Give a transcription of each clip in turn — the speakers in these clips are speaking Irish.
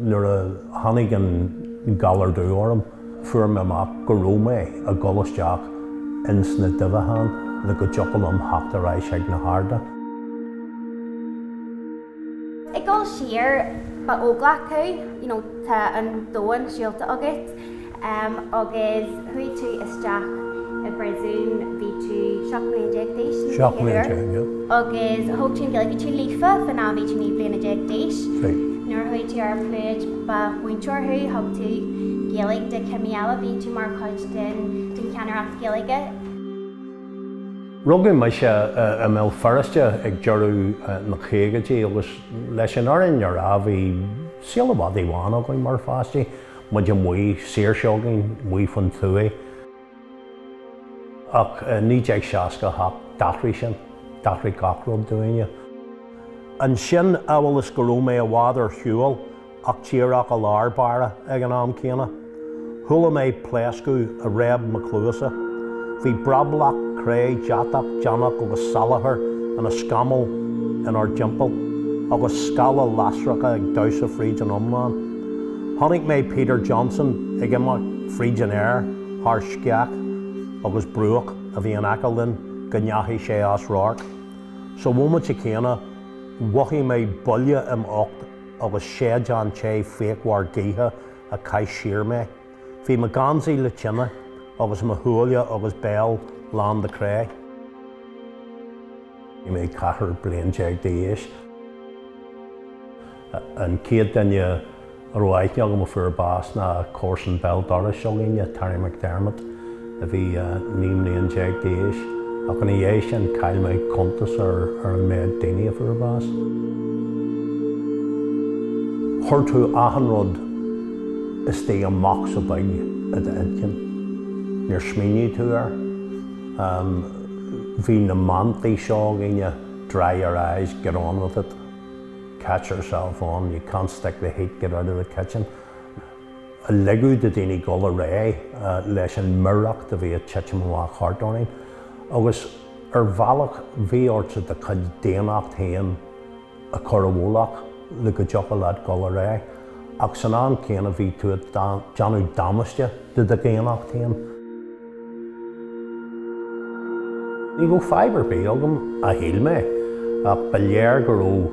Nuair a tháinig an galar dubh orm, fuair mé amach go raibh mé ag dul isteach ins na duibheagáin le go dtiocfadh liom theacht ar ais ag na harda. Ag dul siar, ba óglach tú, you know, tá an domhan siúlta agat, em, agus chuaigh tú isteach i bpríosún, bhí tú seacht mbliana déag d'aois, ní Seacht bliana déag, yeah. agus thóg tú an Ghaeilge, bhí tú líofa fán am a bhí tú naoi bliana déag d'aois. Right. Nuair a chuaigh tú ar pluid, ba mhúinteoir thú, thug tú Gaeilge do chimí eile, bhí tú mar chuid den, den cheannaireacht Gaeilge. Rugadh mise i mBéal Feirste ag deireadh na caogaidí agus leis an fhírinne a rá bhí saol an mhadaidh bháin againn mar pháistí, muid amuigh, saoirse againn, amuigh faoin tuaith. Ach i 1968 d'athraigh sin, d'athraigh gach rud dúinne. Ansin, amhail is go raibh mé i bhfad ar shiúl, ach díreach i lár báire ag an am céanna. Chuala mé pléascadh a réab mo chluasa. Bhí brablach cré deatach deannach agus salachar ina scamall inár dtimpeall, agus scála lasracha ag damhsa fríd an iomlán. Chonaic mé Peter Johnson ag imeacht fríd an aer thar sceach agus bruach a bhí in aice linn go ndeachaigh sé as radharc. Sa bhomaite céanna, mhothaigh mé buille im ucht. agus séideán te fíochmhar gaoithe a chaith siar mé. Bhí mo gheansaí le tine, agus mo shúile agus béal lán de chré. Bhí mé ceathair bliain déag d'aois. An chéad duine a raibh aithne agam a fuair bás ná comharsan bhéal dorais s'againne, Terry McDermott. a bhí 19 mbliain d'aois, ach ina dhiaidh sin chaill mé cuntas ar an méad daoine a fuair bás. Chuir tú achan rud istigh i mbocsa beag i d'intinn. Níor smaoinigh tú air. Bhí na mantraí seo againne, dry your eyes, get on with it, catch yourself on, you can't stick the heat, get out of the kitchen. a ligeadh do dhaoine dul ar aghaidh leis an mireacht a bhí ag titim amach thart orainn, agus ar bhealach bhí ortsa do chuid daonnacht féin a chur i bhfolach le go dtiocfadh leat dul ar aghaidh, ach san am céanna bhí tú ag déanamh damáiste do do dhaonnacht féin. Ní raibh fadhb ar bith agam, a shíl mé, ach ba léir go raibh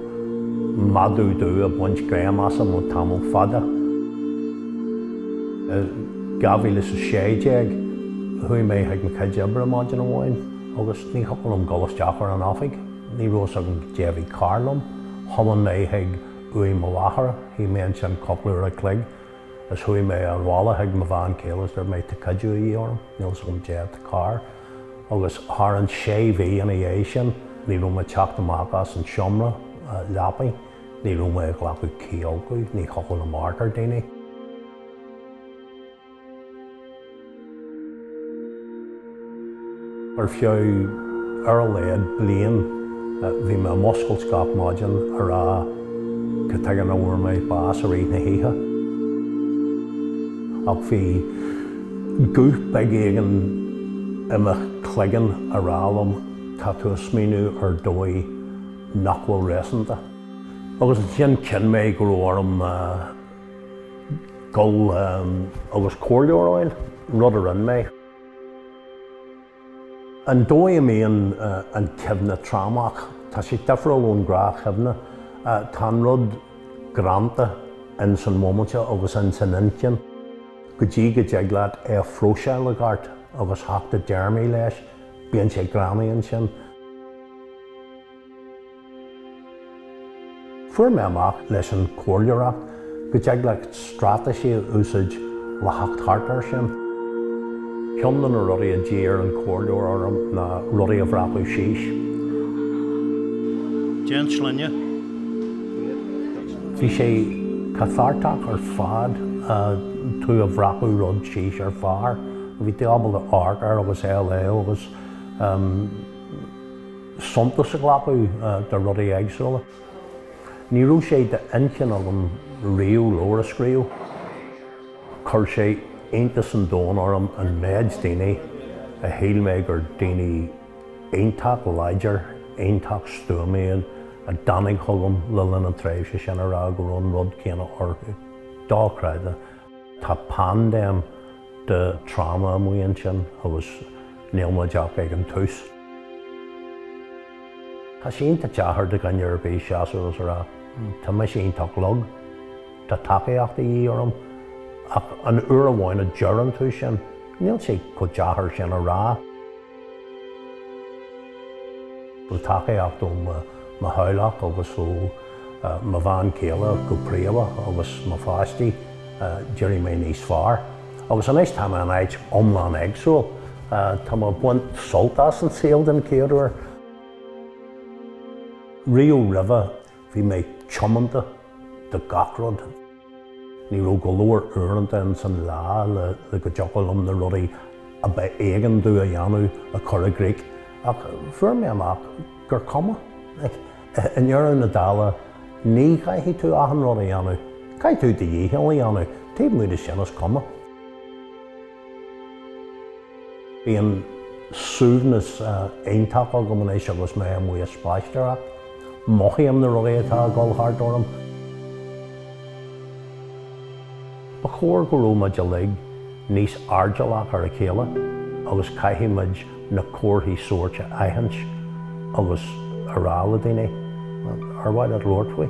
madadh dubh ag baint greim asam le tamall fada. I 2016, chuaigh mé chuig mo chuid oibre maidin amháin agus ní thiocfadh liom dul isteach ar an oifig. Ní raibh a fhios agam caidé a bhí cearr liom. Thiomáin mé chuig uaigh mo mháthar, chaith mé ansin cúpla uair an chloig, Is chuaigh mé 'na bhaile chuig mo bhean chéile is dúirt mé, 'Tá cuidiú a dhíth orm, níl fhios agam caidé atá cearr. Agus thar an sé mhí ina dhiaidh sin, ní raibh mé ag teacht amach as an seomra leapa, ní raibh mé ag glacadh ceatha, ní thiocfadh liom amharc ar dhaoine. Ar feadh ar a laghad bliain bhí mé ag muscailt gach maidin ag rá cad chuige nach bhfuair mé bás i rith na hoíche. Ach bhí guth beag éigin i mo chloigeann ag rá liom, tá tú ag smaoineamh ar dhóigh nach bhfuil réasúnta. Agus ansin chinn mé go raibh orm dul agus comhairleoir a fháil, rud a rinne mé. An dóigh a mbíonn an chuimhne trámach, tá sé difriúil ón ghnáthchuimhne. Tá an rud greanta ins an móimint seo agus ins an intinn go dtí go dtig leat é a phróiseáil i gceart agus theacht i dtéarmaí leis, bíonn sé i gcónaí ansin. Fuair mé amach leis an comhairleoireacht go dtig leat straitéisí a úsáid le theacht thart air sin. Ceann de na rudaí a d'iarr an comhairleoir orm ná rudaí a bhreacadh síos. Domsa bhí sé cathartach ar fad dá mbreacfá rud síos ar phár, bhí tú ábalta amharc air agus é a léamh agus. suntas a ghlacadh de rudaí éagsúla. Ní raibh sé d'intinn agam riamh leabhar a scríobh. Chuir sé iontas an domhain orm an méid daoine a shíl mé gur daoine iontach láidir, iontach stuama iad, a tháinig chugam le linn an tréimhse sin ag rá go raibh an rud céanna orthu. Dochreidte. Tá paindéim de tráma amuigh ansin agus níl muid ach ag an tús. Tá sé iontach deacair do dhuine ar bith seasamh agus a rá, 'Tá mise iontach lag, tá tacaíocht de dhíth orm', ach an uair amháin a deireann tú sin, níl sé chomh deacair sin a rá. Le tacaíocht ó mo theaghlach agus ó mo bhean chéile go príomha agus mo pháistí, d'éirigh mé níos fearr. Agus anois tá mé in áit iomlán éagsúil. Tá mé ag baint sult as an saol den chéad uair. Riamh roimhe bhí mé tiomanta do gach rud. Ní raibh go leor uaireanta ins an lá le go dtiocfadh liom na rudaí ab éigean domh a dhéanamh a chur i gcrích, ach fuair mé amach gur cuma. I ndeireadh na dála, ní chaithfidh tú achan rud a dhéanamh. Caithfidh tú do dhícheall a dhéanamh, taobh amuigh de sin is cuma. Bíonn suaimhneas iontach agam anois agus mé amuigh ag spaisteoireacht. Mothaím na rudaí atá ag dul thart orm. Ba chóir go raibh muid uilig níos airdeallach ar a chéile agus caithfidh muid na comharthaí sóirt a aithint agus a rá le daoine, Ar mhaith leat labhairt faoi?